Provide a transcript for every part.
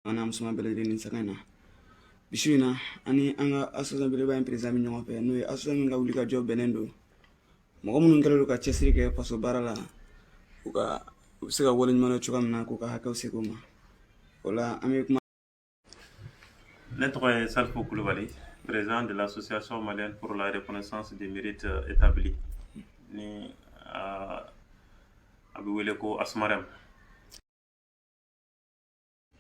an n'a musoman bɛɛ lajɛlen nin sanga in na bi su in na an ni an ka asosiyasiyɔn belebeleba in perezidan bɛ ɲɔgɔn fɛ n'o ye asosiyasiyɔn min ka wulikajɔ bɛnnen don mɔgɔ minnu kɛlen don ka cɛsiri kɛ faso baara la u ka u bɛ se ka waleɲuman dɔn cogoya min na k'u ka hakɛw segin u ma o la an bɛ kuma Ne tɔgɔ ye Salifu kulubali président de l'association malienne pour la reconnaissance des mérites établis ni a bɛ wele ko Asmarem.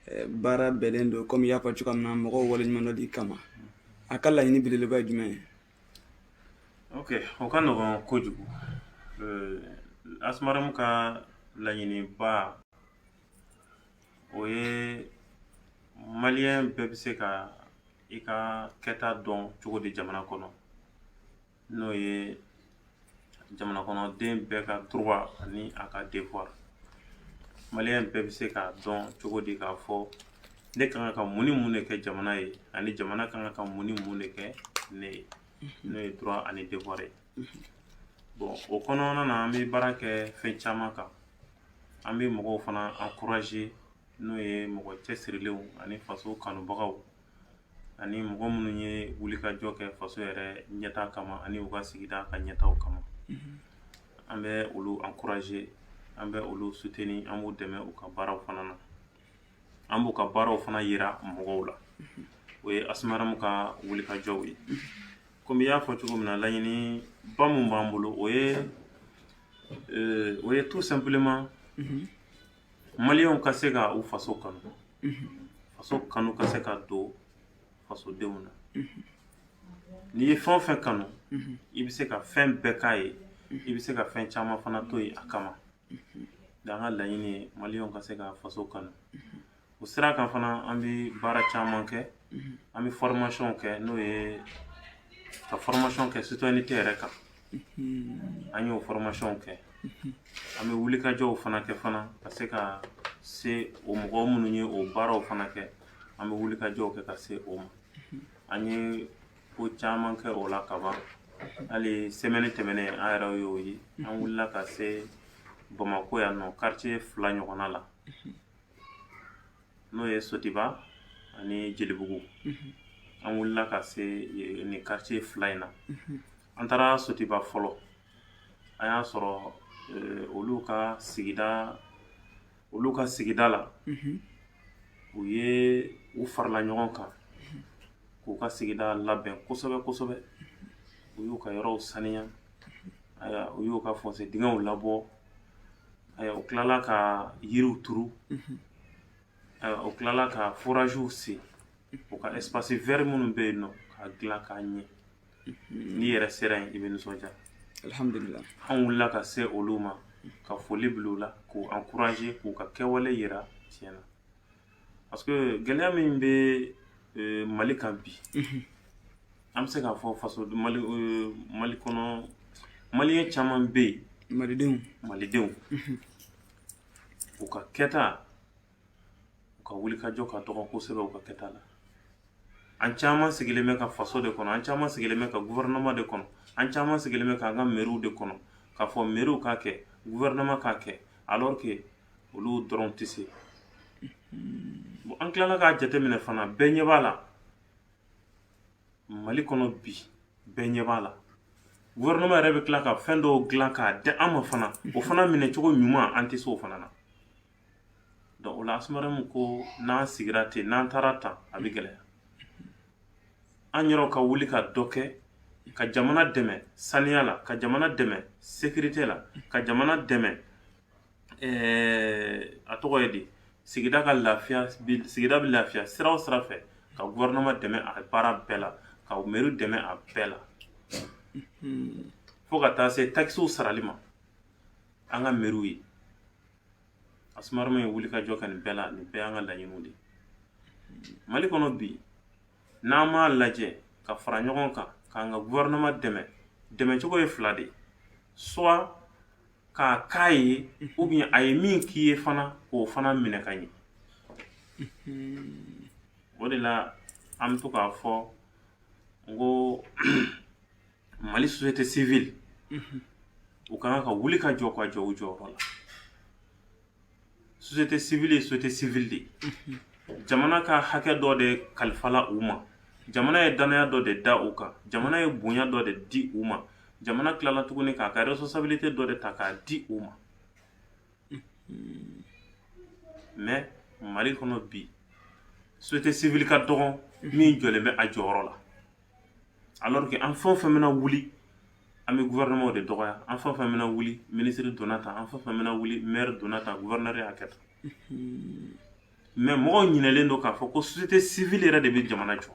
Eh, baara bɛnnen don komi i y'a fɔ cogoya min na mɔgɔw waleɲumandɔnli kama a ka laɲini belebeleba ye jumɛn ye ok o ka nɔgɔn kojugu eh, Asmarem ka laɲiniba o ye maliyɛn bɛɛ bɛ se ka i ka kɛta dɔn cogo di jamana kɔnɔ n'o ye jamana kɔnɔden bɛɛ ka droit ani a ka devoir maliyɛn bɛɛ bɛ se k'a dɔn cogo di k'a fɔ ne kan ka mun ni mun de kɛ jamana ye ani jamana kan ka mun ni mun de kɛ ne ye n'o ye droit ani devoir ye bɔn o kɔnɔna na an be baara kɛ fɛn caman kan an be mɔgɔw fana ankuraze n'o ye mɔgɔ cɛsirilenw ani faso kanubagaw ani mɔgɔ minnu ye wulikajɔ kɛ faso yɛrɛ ɲɛtaa kama ani u ka sigida ka ɲɛtaw kama an bɛ olu ankuraze an bɛ olu suteni an b'u dɛmɛ u ka baaraw fana na an b'u ka baaraw fana yira mɔgɔw la o ye Asmarem ka wulikajɔw ye komi i y'a fɔ cogo min na laɲiniba mun b'an bolo o ye euh, o ye tout simplement maliyɛnw ka se ka u faso kanu faso kanu ka se ka don fasodenw na n'i ye fɛn o fɛn kanu i bɛ se ka fɛn bɛɛ k'a ye i bɛ se ka fɛn caman fana to yen a kama An ka laɲini ye maliyɛnw ka se ka faso kanu o sira kan fana an bɛ baara caman kɛ an bɛ fɔrɔmasiyɔnw kɛ n'o ye ka fɔrɔmasiyɔn kɛ sitɔyɛnite yɛrɛ kan an y'o fɔrɔmasiyɔnw kɛ an bɛ wulikajɔw fana kɛ fana ka se ka se o mɔgɔ minnu ye o baaraw fana kɛ an bɛ wulikajɔw kɛ ka se o ma an ye ko caman kɛ o la ka ban hali semɛni tɛmɛnen an yɛrɛ y'o ye an wulila ka se bamakɔ yan nɔ kartiye fila ɲɔgɔnna la n'o ye sotiba ani jelibugu an wulila ka se e, nin kartiye fila in na an taara sotiba fɔlɔ an y'a sɔrɔ e, olu ka sigida olu ka sigida la u ye u farala ɲɔgɔn kan k'u ka sigida labɛn kosɛbɛ kosɛbɛ u y'u ka yɔrɔw saniya u y'u ka fossé dingɛw labɔ u tilala ka yiriw turu u tilala ka foraziw sen u ka espace vert minnu bɛ yen nɔ ka dilan k'a ɲɛ n'i yɛrɛ sera yen i bɛ nisɔndiya alihamudulila an wulila ka se olu ma ka foli bila u la k'u encourager k'u ka kɛwale yira tiɲɛ na parce que gɛlɛya min bɛ euh, mali kan bi mhm. an bɛ se k'a fɔ faso mali euh, mali kɔnɔ maliyɛn caman bɛ yen malidenw malidenw mhm. u ka kɛta u ka wulikajɔ ka dɔgɔ kosɛbɛ u ka kɛta la an caman sigilen bɛ ka faso de kɔnɔ an caman sigilen bɛ ka gouvernement de kɔnɔ an caman sigilen bɛ k'an ka mɛriw de kɔnɔ k'a fɔ mɛriw k'a kɛ gouvernement k'a kɛ alors que olu dɔrɔn tɛ se bon an tilala k'a jateminɛ fana bɛɛ ɲɛ b'a la mali kɔnɔ bi bɛɛ ɲɛ b'a la gouvernement yɛrɛ bɛ tila ka fɛn dɔw dilan k'a di an ma fana o fana minɛ cogo ɲuman an tɛ se o fana na o la Asmarem ko n'an sigira ten n'an taara tan a bɛ gɛlɛya an yɛrɛw ka wuli ka dɔ kɛ ka jamana dɛmɛ saniya la ka jamana dɛmɛ sécurité la ka jamana dɛmɛ a tɔgɔ ye di sigida ka lafiya sigida bɛ lafiya sira o sira fɛ ka gouvernement dɛmɛ a baara bɛɛ la ka mɛri dɛmɛ a bɛɛ la fo ka taa se takisiw sarali ma an ka mɛriw ye Asmarem ye wulikajɔ kɛ nin bɛɛ la nin bɛɛ y'an ka laɲiniw de ye Mali kɔnɔ bi n'an m'a lajɛ ka fara ɲɔgɔn kan k'an ka gouvernement dɛmɛ dɛmɛ cogo ye fila de ye soit k'a k'a ye ou bien a ye min k'i ye fana k'o fana minɛ ka ɲɛ o de la an bɛ to k'a fɔ n ko mali société civile mhm. u ka kan ka wuli ka jɔ ka jɔ u jɔyɔrɔ la société civile ye société civile de mhm. jamana ka hakɛ dɔ de kalifala u ma jamana ye danaya dɔ de da u kan jamana ye bonya dɔ de di u ma jamana tilala tuguni k'a ka responsabilité dɔ de ta k'a di u ma mais mali kɔnɔ bi société civile ka dɔgɔn min jɔlen bɛ a jɔyɔrɔ la alors que an fɛn o fɛn bɛna wuli an bɛ gouvernement de dɔgɔya an fɛn o fɛn bɛna wuli ministre donna tan an fɛn o fɛn bɛna wuli maire donna tan gouverneur y'a kɛ tan mais mɔgɔw ɲinɛlen don k'a fɔ ko société civile yɛrɛ de bɛ jamana jɔ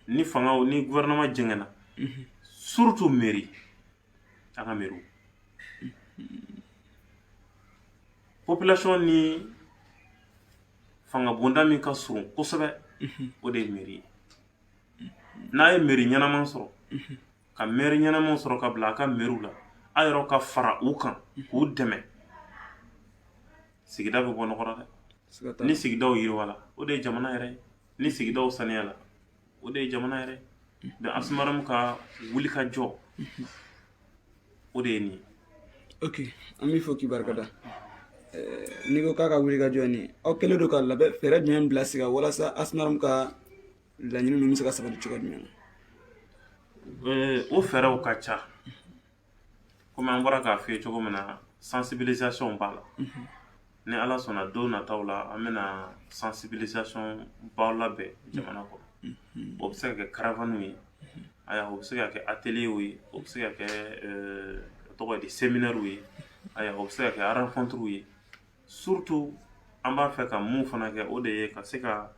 ni fangaw ni gouvernement jɛngɛnna surtout mairie an ka mairie population ni fanga bonda min ka surun kosɛbɛ o de ye meri ye n'a ye meri ɲɛnaman sɔrɔ ka mɛri ɲɛnaman sɔrɔ ka bila a ka meriw la a yɛrɛ ka fara u kan k'u dɛmɛ sigida bɛ bɔ nɔgɔ la dɛ ni sigidaw yiriwala o de ye jamana yɛrɛ ye ni sigidaw saniyala o de ye jamana yɛrɛ da Asmaramu ka wuli ka jɔ o de ye nin ok an b'i fɔ k'i barikada n'i ko k'a ka wuli ka jɔ ye nin aw kɛlen don ka labɛn fɛɛrɛ jumɛn bila sen kan walasa Asmaramu ka laɲini ninnu bɛ se ka sabati cogo jumɛn na o fɛɛrɛw ka ca komi an bɔra k'a f'i ye cogo min na sensibilisation b'a la ni ala sɔnna don nataw la an bɛna sensibilisation baw labɛn jamana kɔnɔ o bɛ se ka kɛ karavaniw ye aya o bɛ se ka kɛ ateliyew ye o bɛ se ka kɛ tɔgɔ ye di seminɛriw ye aya o bɛ se ka kɛ arankɔntiriw ye surutu an b'a fɛ ka mun fana kɛ o de ye ka se ka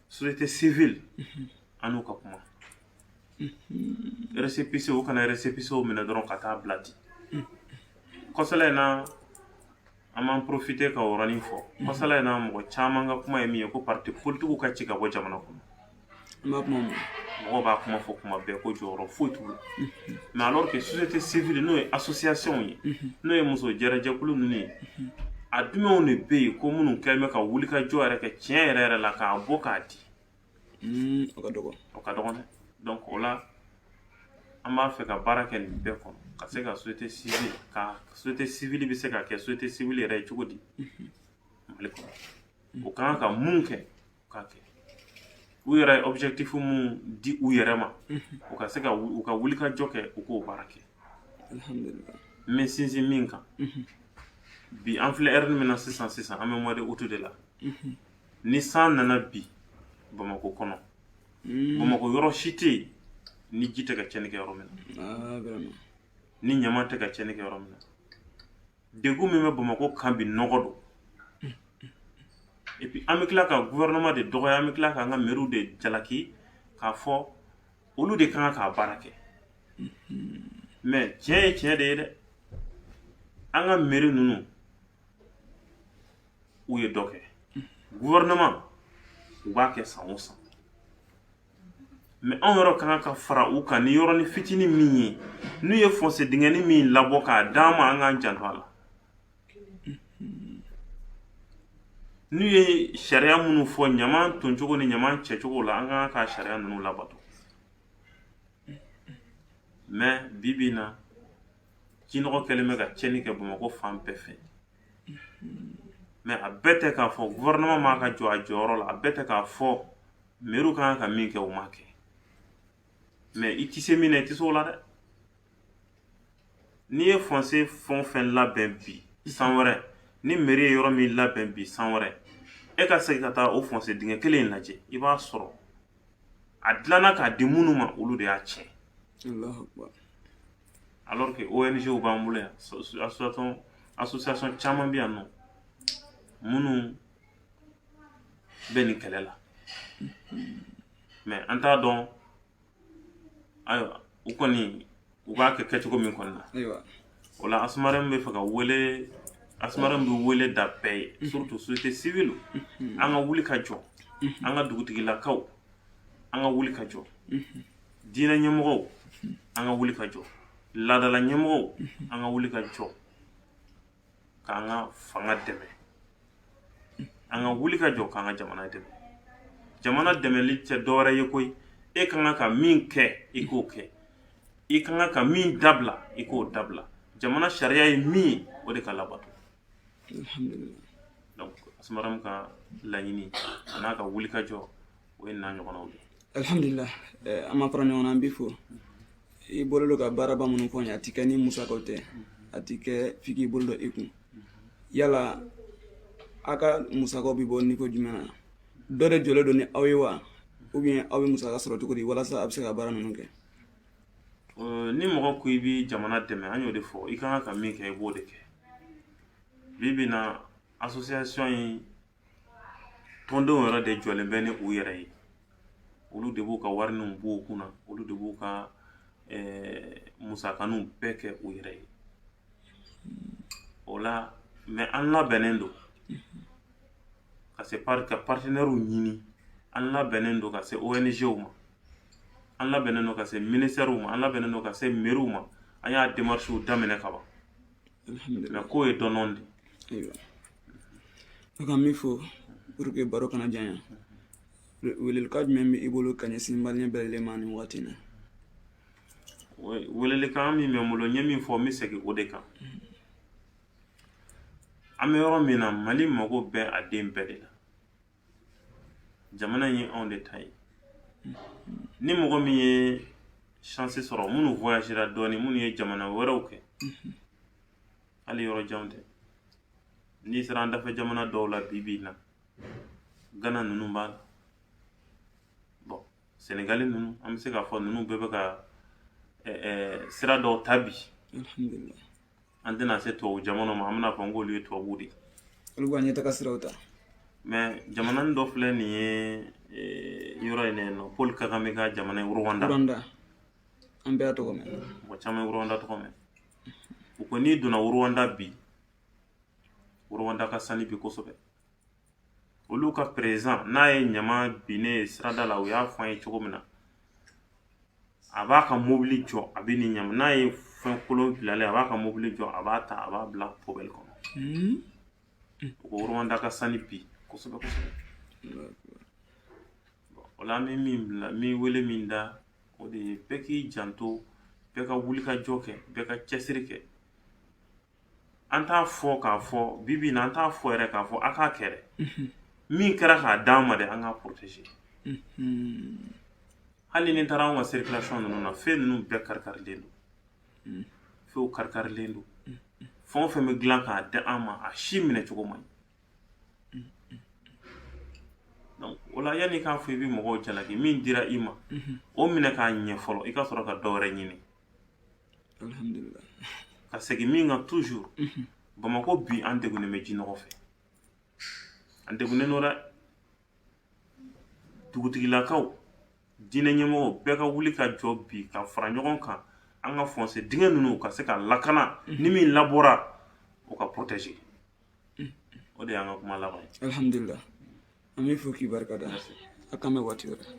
société civile mhm. an n'u ka kuma récépissé mhm. u kana récépisséw minɛ dɔrɔn ka taa bila ten mhm. kɔsala in na an b'an profiter ka o yɔrɔnin fɔ kɔsala in na mɔgɔ caman ka kuma ye min ye ko parti politikiw ka ci ka bɔ jamana kɔnɔ N b'a kuma mɛn. Mɔgɔw b'a kuma fɔ kuma bɛɛ ko jɔyɔrɔ foyi t'u la. Mais alors que société civile n'o ye association ye, n'o ye muso jɛrɛjɛkulu ninnu ye, a dumɛnw de bɛ yen ko minnu kɛlen bɛ ka wulikajɔ yɛrɛ kɛ tiɲɛ yɛrɛ yɛrɛ la k'a bɔ k'a di. Hmm, o ka dɔgɔ. O ka dɔgɔ dɛ. Donc o la an b'a fɛ ka baara kɛ nin bɛɛ kɔnɔ ka se ka société civile ka société civile bɛ se ka kɛ société civile yɛrɛ ye cogo di Mali kɔnɔ. O ka kan ka mun kɛ k'a kɛ u yɛrɛ ye objectif mun di u yɛrɛ ma u ka se ka u ka wuli ka jɔ kɛ u k'o baara kɛ alhamdulillah n bɛ sinsin min kan bi an filɛ heure min na sisan sisan an bɛ mois de août de la ni san nana bi bamakɔ kɔnɔ bamakɔ yɔrɔ si tɛ yen ni ji tɛ ka tiɲɛni kɛ yɔrɔ min na ni ɲama tɛ ka tiɲɛni kɛ yɔrɔ min na Degun min bɛ bamakɔ kan bi nɔgɔ don et puis an bɛ tila ka gouvernement de dɔgɔya an bɛ tila k'an ka meriw de jalaki k'a fɔ olu de ka kan k'a baara kɛ mais tiɲɛ ye tiɲɛ de ye dɛ an ka meri ninnu u ye dɔ kɛ gouvernement u b'a kɛ san o san mɛ anw yɛrɛ ka kan ka fara u kan ni yɔrɔnin fitinin min ye n'u ye fɔnse dingɛni min labɔ k'a d'an ma an k'an janto a la n'u ye sariya minnu fɔ ɲaman toncogo ni ɲaman cɛcogo la an ka kan ka sariya ninnu labato mɛ bi bi in na jinɔgɔ kɛlen bɛ ka tiɲɛni kɛ bamakɔ fan bɛɛ fɛ mɛ a bɛɛ tɛ k'a fɔ gɔvɛrɛnaman m'a ka jɔ a jɔyɔrɔ la a bɛɛ tɛ k'a fɔ mɛriw ka kan ka min kɛ u m'a kɛ mɛ i tɛ se min na i tɛ se o la dɛ n'i ye fɔnse fɛn o fɛn labɛn bi san wɛrɛ ni mɛri ye yɔrɔ min labɛn bi san wɛrɛ e ka segin ka taa o fɔnse dingɛ kelen in lajɛ i b'a sɔrɔ a dilanna k'a di minnu ma olu de y'a tiɲɛ alors que ONG b'an bolo yan association caman bɛ yan nɔ minnu bɛ nin kɛlɛ la mɛ an t'a dɔn ayiwa u kɔni u b'a kɛ kɛcogo min kɔni na o la asumaramu b'a fɛ ka wele asumaramu bɛ wele da bɛɛ ye mhm. surtout société civile mhm. an ka wuli ka jɔ mhm. an ka dugutigilakaw an ka wuli ka jɔ diinɛ ɲɛmɔgɔw an ka wuli ka jɔ laadala ɲɛmɔgɔw an ka wuli ka jɔ k'an ka fanga dɛmɛ an ka wuli ka jɔ k'an ka jamana dɛmɛ jamana dɛmɛli tɛ dɔwɛrɛ ye koyi e ka kan ka min kɛ i k'o kɛ i ka kan ka min dabila i k'o dabila jamana sariya ye min ye o de ka labato donc asumaramu ka laɲini an'a ka wulikajɔ o ye n'a ɲɔgɔnnaw de alhamdulila an ma fara ɲɔgɔn na an b'i fo i bolo don ka baaraba minnu fɔ n ye a ti kɛ ni musakaw tɛ a ti kɛ f'i k'i bolo don i kun yala a ka musakaw bɛ bɔ niveau jumɛn na dɔ de jɔlen don ni aw ye wa ou bien aw bɛ musaka sɔrɔ cogo di walasa a bɛ se ka baara ninnu kɛ Euh, ni mɔgɔ ko i bɛ jamana dɛmɛ an y'o de fɔ i kan ka min kɛ i b'o de kɛ bi bi in na association in tɔndenw yɛrɛ de jɔlen bɛ ni u yɛrɛ ye olu de b'u ka warininw bɔ u kunna olu de b'u ka musakaninw bɛɛ kɛ u yɛrɛ ye o la mɛ an labɛnnen don ka se ka partenaires ɲini an labɛnnen don ka se ONGw ma an labɛnnen don ka se ministɛriw ma an labɛnnen don ka se meriw ma an y'a démarches daminɛ ka ban alhamdulillah ko ye dɔɔnin de ayiwa ne ka min fɔ pour que baro kana janya welelikan jumɛn bɛ i bolo ka ɲɛsin maliyɛn bɛɛ lajɛlen ma nin waati in na welelikan min bɛ n bolo n ye min fɔ n bɛ segin o de kan an bɛ yɔrɔ min na mali mago bɛ a den bɛɛ de la jamana in ye anw de ta ye ni mɔgɔ min ye chance sɔrɔ minnu voyagera dɔɔni minnu ye jamana wɛrɛw kɛ hali yɔrɔ janw tɛ n'i sera an dafɛ jamana dɔw la bi bi in na gana ninnu b'a la bon sɛnɛgali ninnu an bɛ se k'a fɔ ninnu bɛɛ bɛ ka sira dɔw ta bi an tɛna se tubabu jamana ma an bɛna fɔ n k'olu ye tubabu de olu ka ɲɛtaga siraw ta mais jamana dɔ filɛ nin ye yɔrɔ in nɔ paul kagame ka jamana ye rwanda an bɛɛ y'a tɔgɔ mɛn mɔgɔ caman ye rwanda tɔgɔ mɛn u ko n'i donna rwanda bi rwanda ka sani bi kosɛbɛ Olu ka président n'a ye ɲama binnen ye sirada la u y'a fɔ an ye cogo min na a b'a ka mobili jɔ a bɛ nin ɲama n'a ye fɛn kolon bilalen a b'a ka mobili jɔ a b'a ta a b'a bila poubelle kɔnɔ u ko rwanda ka sani bi kosɛbɛ o la an bɛ min bila min wele min da o de ye bɛɛ k'i janto bɛɛ ka wulikajɔ kɛ bɛɛ ka cɛsiri kɛ an t'a fɔ k'a fɔ bi bi na an t'a fɔ yɛrɛ k'a fɔ a k'a kɛ dɛ min kɛra k'a d'an ma dɛ an k'a protéger hali n'i taara anw ka circulation ninnu na fɛn ninnu bɛɛ karikarilen don fɛnw karikarilen don fɛn o fɛn bɛ dilan k'a di an ma a si minɛ cogo man ɲi donc o la yanni i k'a fɔ i bɛ mɔgɔw jalaki min dira i ma o minɛ k'a ɲɛ fɔlɔ i ka sɔrɔ ka dɔ wɛrɛ ɲini ka segin min kan toujours mhm. bamakɔ bi an degunnen bɛ jinɔgɔ fɛ an degunnen don dɛ dugutigilakaw diinɛ ɲɛmɔgɔw bɛɛ ka wuli ka jɔ bi ka fara ɲɔgɔn kan an ka fossé dingɛ ninnu ka se ka lakana mhm. ni min labɔra o ka protéger mhm. o de y'an ka kuma laban ye alhamdulila an b'i fo k'i barika da a k'an bɛn waati wɛrɛ